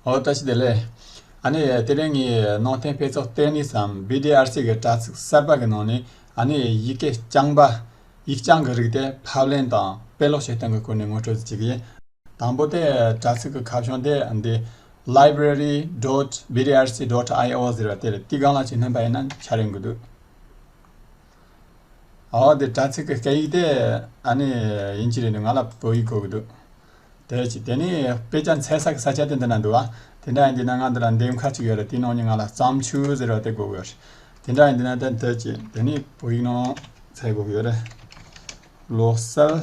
ཨོ་བཀྲ་ཤིས་བདེ་ལེགས། ཨ་ནེ། དེ་རིང་ངས་ནང་བསྟན་དཔེ་ཚོགས་བལྟས་ནས་སམ BDRC གི་དྲྭ་ཚིགས་གསར་པ་གི་ནང་ནས་ཨ་ནེ་ཡི་ཡི་གེ་རྐྱང་པ། ཡིག་རྐྱང་གི་རིགས་དེ་ཕབ་ལེན་དང་དཔེ་ཀློག་བྱེད་སྟངས་ཀྱི་སྐོར་ནས་ངོ་སྤྲོད་ཅིག་ཡིན། དང་པོ་དེ་དྲྭ་ཚིགས་ཀྱི་ཁ་བྱང་དེ་འདི། Library dot BDRC dot IO ཟེར་བ་དེར་ཏིག་གང་ལ་བྱེད་སྣོན་པ་ཡིན་ན་འཆར་ཡོང་གི་འདུག། ཨོ་དེ་དྲྭ་ཚིགས་ཀྱི་སྐད་ཡིག་དེ་ཨ་ནེ་ཡིན་གྱི་རེད་འདུག་ང་ལ་བོད་ཡིག་གོ་གི་འདུག། དེ་ཅི་དེ་ནི་དཔེ་ཆ་འཚལ་ས་གི་ས་ཆ་དེ་འདི་ན་འདུག་ཨ། དེ་འདྲ་ཡིན་དུས་ན་ང་འདི་ལ་འདེམས་ཁ་གཅིག་ཡོད་རེད་དེའི་ནང་ནས་ང་ལ་བརྩམས་ཆོས་ཟེར་བ་དེ་དགོས་གི་ཡོད་རེད། དེ་འདྲ་ཡིན་དུས་ན་དེ་ཅི་དེ་ནི་བོད་ཡིག་ནང་འཚལ་དགོས་གི་ཡོད་རེད། ལོ་གསར།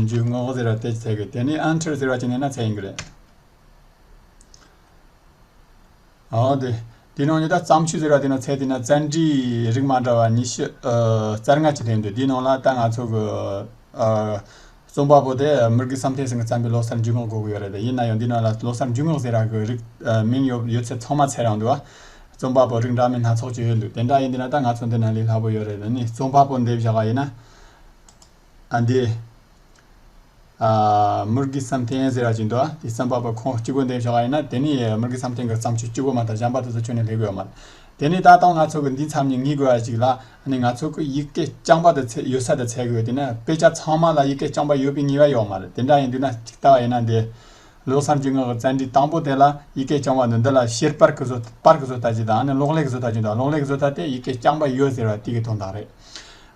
འཇུག་ངོགས་ཟེར་བ་དེ་ཅི་འཚལ་གི་ཡོད་དེ་ནི་ཨན་ཁྲིར་ཟེར་བ་ཅིག་ནས་ན་འཚལ་ཡིན་གི་རེད། དེའི་ནང་ནས་ད་བརྩམས་ཆོས་ཟེར་བ་དེ་ནང་ཚན་དེ་ནང་བཙན་འབྲི་རིགས་མ་འདྲ་བ་ཉི་ཤུ་རྩ་ལྔ་ཅིག་ལྷན་འདུག་དེའི་ནང་ལ་ད་ང་ཚོ་གི་རྩོམ་པ་པོ་དེ་མི་རྒན་བསམ་འཕེལ་སེང་གིས་བརྩམས་པའི་ལོ་གསར་འཇུག་ངོགས་གོ་གི་ཡོད་རེད་ཡིན་ན་ཡང་འདི་ནང་ལ་ལོ་གསར་འཇུག་ངོགས་ཟེར་བ་གི་རིགས་མིང་ཡོད་ཡོད་ཚད་ཚང་མ་ཚད་རང་འདུག་ཨ། རྩོམ་པ་པོ་རིགས་འདྲ་མིན་སྣ་ཚོགས་ཀྱི་ཡོད་འདུག་དེ་འདྲ་ཡིན་དུས་ན་ད་ང་ཚོ་འདི་ནང་ལས་སླ་པོ་ཡོད་རེད་ནི་རྩོམ་པ་པོ་འདེབས་བཞག་པ་ཡིན་ན། ཨ་འདི། ཨ། དམུ་དགེ་བསམ་གཏན་ཟེར་བ་ཅིག་འདུག་ཨ། དེ་བསམ་པ་པོ་ཁོང་གཅིག་པུ་འདེམས་ཤོག་ཨ། ཡིན་ན་དེ་ནི་དམུ་དགེ་བསམ་གཏན་གྱི་བརྩམས་ཆོས་སྐྱུར་པོ་མ་དག་སྦྱངས་པ་དེ་ཚོ་ཁྱོན་ནས་ལེགས་དགོས་ཡོད་མ་རེད། དེ་ནི་ད་ལྟ་ང་ཚོ་གི་འདི་མཚམས་ནས་ངེས་དགོས་བ་ཅིག་ལ་ཨ་ནི་ང་ཚོ་གི་ཡིག་སྐད་སྤྱངས་པ་དེ་ཚད་ཡོད་ས་དེ་ཚད་དགོས་དེ་ནི་དཔེ་ཆ་ཚང་མ་ལ་ཡིག་སྐད་སྤྱངས་པ་ཡོད་པའི་ངེས་བ་ཡོད་མ་རེད་དེ་འདྲ་ཡིན་དུས་ན་ཅིག་ལྟ་བ་ཡིན་ན་འདི། ལོ་བསམ་གྱི་ངག་གི་བཙན་འབྲིད་དང་པོ་དེ་ལ་ཡིག་སྐད་སྤྱངས་བ་འདི་འདི་ལ་ཤེར་པར་གྱི་བཟོ་པར་གྱི་བཟོ་ལྟ་ཅིག་དང་ཨ་ནི་ཀློག་ལེགས་བཟོ་ལྟ་ཅིག་འདུག་ཨ་ཀློག་ལེགས་བཟོ་ལྟ་དེ་ཡིག་སྐད་སྤྱངས་པ་ཡོད་ཟེར་བ་དེ་གི་དོན་དག་རེད།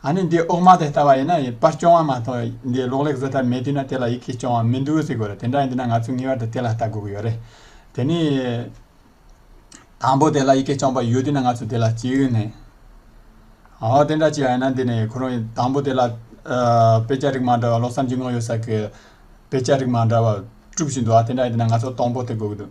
ཨ་ནི་འདི་ཨོག་མ་དེ་ལྟ་བ་ཡིན་ན་ཡིན་པར་སྐྱོང་བ་མ་གཏོགས་འདི་གློག་ཀླད་བཟོ་ཐབས་མེད་དུས་ན་དེ་ལ་ཡི་གེ་སྐྱོང་བ་མི་འདུག་ཟེར་དགོས་རེད་དེ་འདྲ་ཡིན་དུས་ན་ང་ཚོས་ངེས་བར་དུ་དེ་ལ་ལྟ་དགོས་ཀྱི་ཡོད་རེད། དེ་ནི། དང་པོ་དེ་ལ་ཡི་གེ་སྐྱོང་པ་ཡོད་དུས་ན་ང་ཚོས་དེ་ལ་ཅི་ཡོད་ནས། འོ་དེ་འདྲ་ཅི་ཡང་ཡིན་ན་འདི་ནི་ཁོ་རང་དང་པོ་དེ་ལ། དཔེ་ཆ་རིགས་མ་འདྲ་བ་ལོ་བསམ་གྱི་དངོས་ཡོད་ས་ཁུལ་དཔེ་ཆ་རིགས་མ་འདྲ་བ་དཀྲུགས་བཞིན་འདུག་ཨ་དེ་འདྲ་ཡིན་དུས་ན་ང་ཚོ་སྟོང་པོ་དེ་དགོས་ཀྱི་འདུག།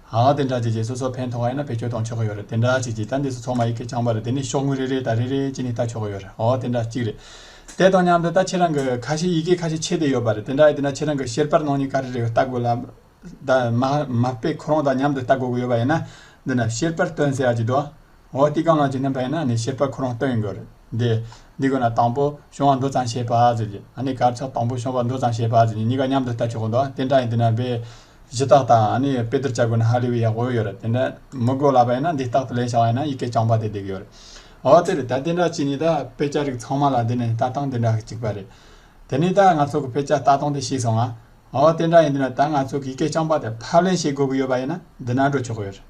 ཨ་ཨ་དེ་འདྲ་བྱས་རྗེས་སོ་སོ་ཕན་ཐོགས་ཡོད་ན་བེད་སྤྱོད་གཏོང་ཆོག་གི་ཡོད་རེད་དེ་འདྲ་བྱས་རྗེས་ད་འདི་སུ་ཚོགས་མ་ཡི་གེ་རྐྱང་པ་རེད་དེ་ནི་ཤོག་ངོས་རེ་རེའི་དང་རེ་རེའི་སྤྱི་ནི་ལྟ་ཆོག་གི་ཡོད་རེད་ཨོ་དེ་འདྲ་གཅིག་རེད། དེ་དང་མཉམ་དུ་ད་ཁྱེད་རང་གི་ཁ་ཤས་ཡི་གེ་ཁ་ཤས་ཆད་དེ་ཡོད་པ་རེད་དེ་འདྲ་ཡོད་དེ་འདྲ་ཁྱེད་རང་གི་ཤེར་པར་ནང་ནས་ག་རེ་རེ་ཡོད་ལྟ་དགོས་ལ། ད་མ་མ་དཔེ་ཁོ་རང་དང་མཉམ་དུ་ལྟ་དགོས་གི་ཡོད་པ་ཡིན་ན། འདི་ན་ཤེར་པར་སྟོན་ཟེར་ཡག་གི་འདུག་འོ་དེ་གང་ལ་བྱེད་ན་བས་ན་ནི་ཤེས་པ་ཁོ་རང་སྟོན་དགོས་རེད། འདི་དགོས་ན་དང་པོ་ཤོང་བ་འགྲོ་ཙམ་བྱས་པ་ཟེར་གྱི། ཨ་ནི་གར་ཆག་དང་པོ་ཤོང་བ་འགྲོ་ཙམ་བྱས་པ་ཟེར་གྱི་གཉིས་ཀ་མཉམ་དུ་བལྟ་ཆོག་གོ་འདོག་དེ་འདྲ་ཡིན་དུས་ན་བས། གཞི་རྟགས་དང་ཨ་ནི་དཔེ་བསྡུར་བྱ་དགོས་ན་ཧ་ལས་པའི་ཡག་པོ་ཡོད་རེད་དེ་འདྲ་མི་དགོས་ལ་བས་ན་འདི་རྟག་ཏུ་ལེན་བྱ་བ་ཡིན་ན་ཡི་གེ་རྐྱང་པ་དེ་བསྡད་ཀྱི་ཡོད་རེད། འོ་དེ་རེད་ད་དེ་འདྲ་བྱས་ནས་ད་དཔེ་ཆ་རིགས་ཚང་མ་ལ་འདི་ནས་ལྟ་སྟངས་དེ་འདྲ་གཅིག་པ་རེད། དེ་ནས་ད་ང་ཚོ་གི་དཔེ་ཆ་ལྟ་སྟངས་དེ་ཤེས་སོང་ང། འོ་དེ་འདྲ་ཡིན་དུས་ན་ད་ང་ཚོ་གི་ཡི་གེ་རྐྱང་པ་དེ་ཕབ་ལེན་བྱེད་དགོས་ཀྱི་ཡོད་པ་ཡིན་ན་འདི་ན་འགྲོ་ཆོག་གི་ཡོད་རེད།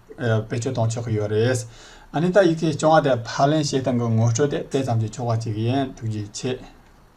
བེད་སྤྱོད་གཏོང་ཆོག་གི་ཡོད་རེད། ཨ་ནི་ད་ཡི་གེ་བཅོ་ལྔ་དེ་ཕར་ལེན་བྱེད་སྟངས་ཀྱི་ངོ་སྤྲོད་དེ་དེ་ཙམ་གྱིས་ཆོག་པ་ཅིག་ཡིན་ཐུགས་རྗེ་ཆེ།